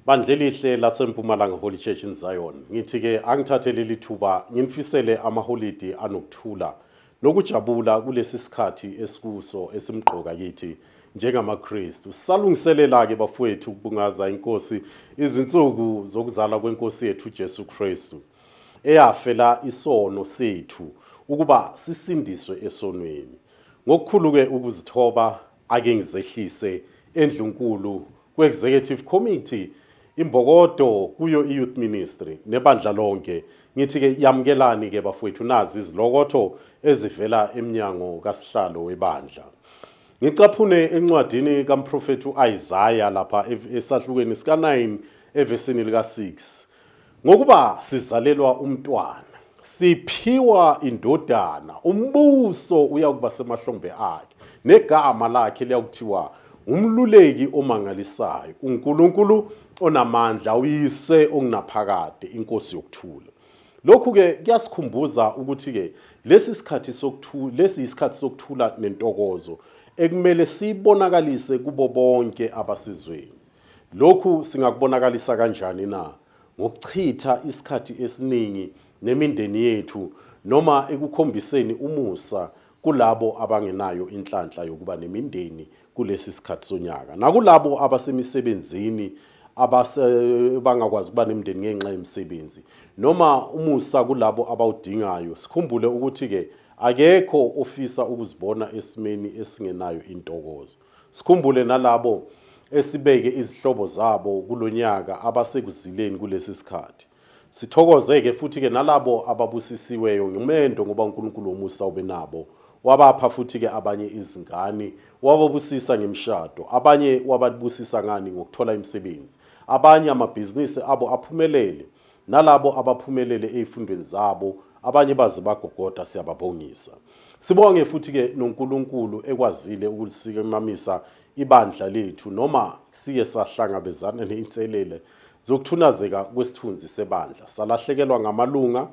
bandla elihle lasempumalanga holy church in zion ngithi-ke angithathe leli thuba nginifisele amaholidi anokuthula nokujabula kulesi sikhathi esikuso esimgqoka kithi njengamakristu sisalungiselela-ke bafowethu ukubungaza inkosi izinsuku zokuzalwa kwenkosi yethu ujesu kristu eyafela isono sethu ukuba sisindiswe esonweni ngokukhulu-ke ukuzithoba Ake ngizehlise endlunkulu kwe-executive committee imbokodo kuyo i-youth ministry nebandla lonke ngithi-ke yamukelani-ke bafowethu nazi izilokotho ezivela emnyango kasihlalo webandla ngicaphune encwadini kamprofethi u-isaya lapha esahlukweni sika-9 evesini lika-6 Ngokuba sizalelwa umntwana, siphiwa indodana, umbuso uyakuba semahlombe akhe, negama lakhe liyakuthiwa umluleki omangalisayo, uNkulunkulu onamandla, uyise ongunaphakade, inkosi yokuthula. Lokhu-ke kuyasikhumbuza ukuthi-ke lesi sikhathi sokuthula, lesi yisikhathi sokuthula nentokozo ekumele sibonakalise kubo bonke abasizweni. Lokhu singakubonakalisa kanjani na? Ngokuchitha isikhathi esiningi nemindeni yethu noma ekukhombiseni umusa kulabo abangenayo inhlanhla yokuba nemindeni kulesi sikhathi sonyaka nakulabo abasemisebenzini abangakwazi ukuba nemindeni ngenxa yemisebenzi noma umusa kulabo abawudingayo sikhumbule ukuthi-ke akekho ofisa ukuzibona esimeni esingenayo intokozo Sikhumbule nalabo esibeke izihlobo zabo kulonyaka abasekuzileni kulesi sikhathi. Sithokoze ke futhi ke nalabo ababusisiweyo ngimendo ngoba uNkulunkulu womusa ubenabo. Wabapha futhi ke abanye izingane, wababusisa ngemshado, abanye wababusisa ngani ngokuthola imisebenzi. Abanye amabhizinisi abo aphumelele. nalabo abaphumelele ezifundweni zabo abanye baze bagogoda siyababongisa sibonge futhi ke noNkulunkulu ekwazile ukusikamamisa ibandla lethu noma siye sahlangabezana neinselele zokuthunazeka kwesithunzi sebandla salahlekelwa ngamalunga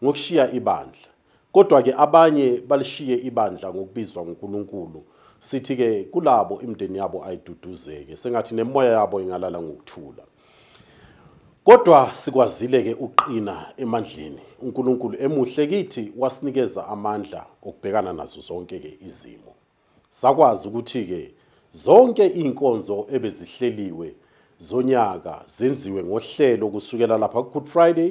ngokushiya ibandla Kodwa-ke abanye balishiye ibandla ngokubizwa nguNkulunkulu. Sithi-ke kulabo imindeni yabo ayiduduzeke, sengathi nemoya yabo ingalala ngokuthula. Kodwa sikwazile-ke ukuqina emandleni, uNkulunkulu emuhle kithi wasinikeza amandla okubhekana nazo zonke-ke izimo. Sakwazi ukuthi-ke zonke iy'nkonzo ebezihleliwe zonyaka zenziwe ngohlelo kusukela lapha ku-good friday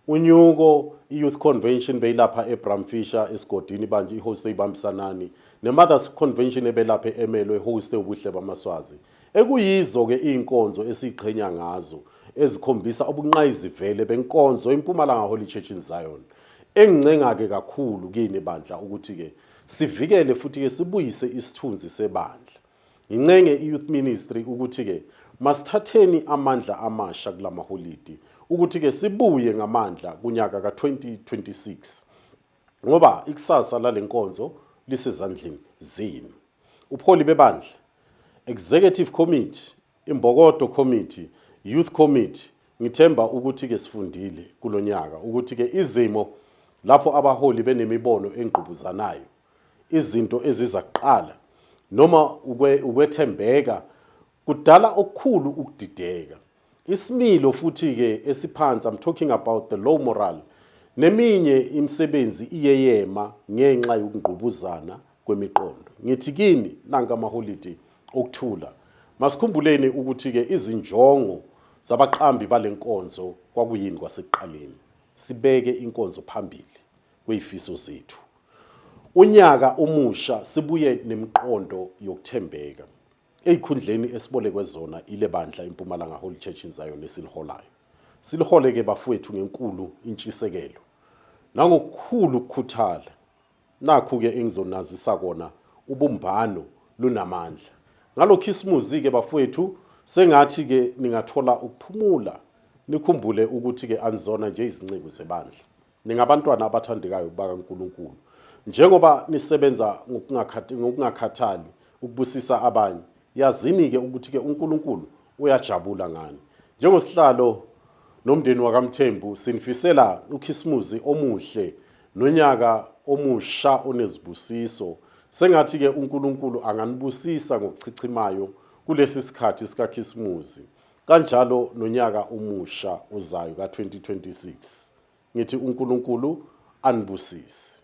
unyuko i-youth convention beyilapha ebramfisher esigodini banje ihoste ibambisanani ne-mothers convention ebelapha e-emelo ehoste ubuhle bamaswazi ekuyizo-ke iy'nkonzo esiyiqhenya ngazo ezikhombisa ubunqayizivele benkonzo impumalanga holy church in zion engincenga-ke kakhulu kini bandla ukuthi-ke Sivikele futhi-ke sibuyise isithunzi sebandla. Ngincenge i-Youth Ministry ukuthi-ke masithatheni amandla amasha kula maholidi ukuthi-ke sibuye ngamandla kunyaka ka-2026 ngoba ikusasa lale nkonzo lisezandleni zenu. Ubuholi bebandla, Executive Committee, Imbokodo Committee, Youth Committee, ngithemba ukuthi-ke sifundile kulo nyaka ukuthi-ke izimo lapho abaholi benemibono engqubuzanayo, izinto eziza kuqala noma ukwethembeka kudala okukhulu ukudideka. Isimilo futhi-ke esiphansi, I'm talking about the low morale, neminye imisebenzi iyeyema ngenxa yokungqubuzana kwemiqondo. Ngithi kini nanka amaholidi okuthula. Masikhumbuleni ukuthi-ke izinjongo zabaqambi bale nkonzo kwakuyini kwasekuqaleni. Sibeke inkonzo phambili kweyifiso zethu. Unyaka omusha sibuye nemiqondo yokuthembeka ezikhundleni esibolekwe zona ile bandla impumalanga Holy Church in Zion esiliholayo. Silihole-ke bafowethu ngenkulu intshisekelo nangokukhulu ukukhuthala Nakhu-ke engizonazisa kona ubumbano lunamandla. Ngalo khisimuzi-ke bafowethu sengathi-ke ningathola ukuphumula nikhumbule ukuthi-ke anizona nje izinceku zebandla. Ningabantwana abathandekayo bakaNkulunkulu. Njengoba nisebenza ngokungakhathali ukubusisa abanye, yazini-ke ukuthi-ke uNkulunkulu uyajabula ngani. Njengosihlalo nomndeni wakaMthembu sinifisela ukhisimuzi omuhle Nonyaka omusha onezibusiso. Sengathi ke uNkulunkulu anganibusisa ngokuchichimayo kulesi sikhathi sikaKhisimuzi. Kanjalo nonyaka omusha ozayo ka-2026. Ngithi uNkulunkulu anibusise.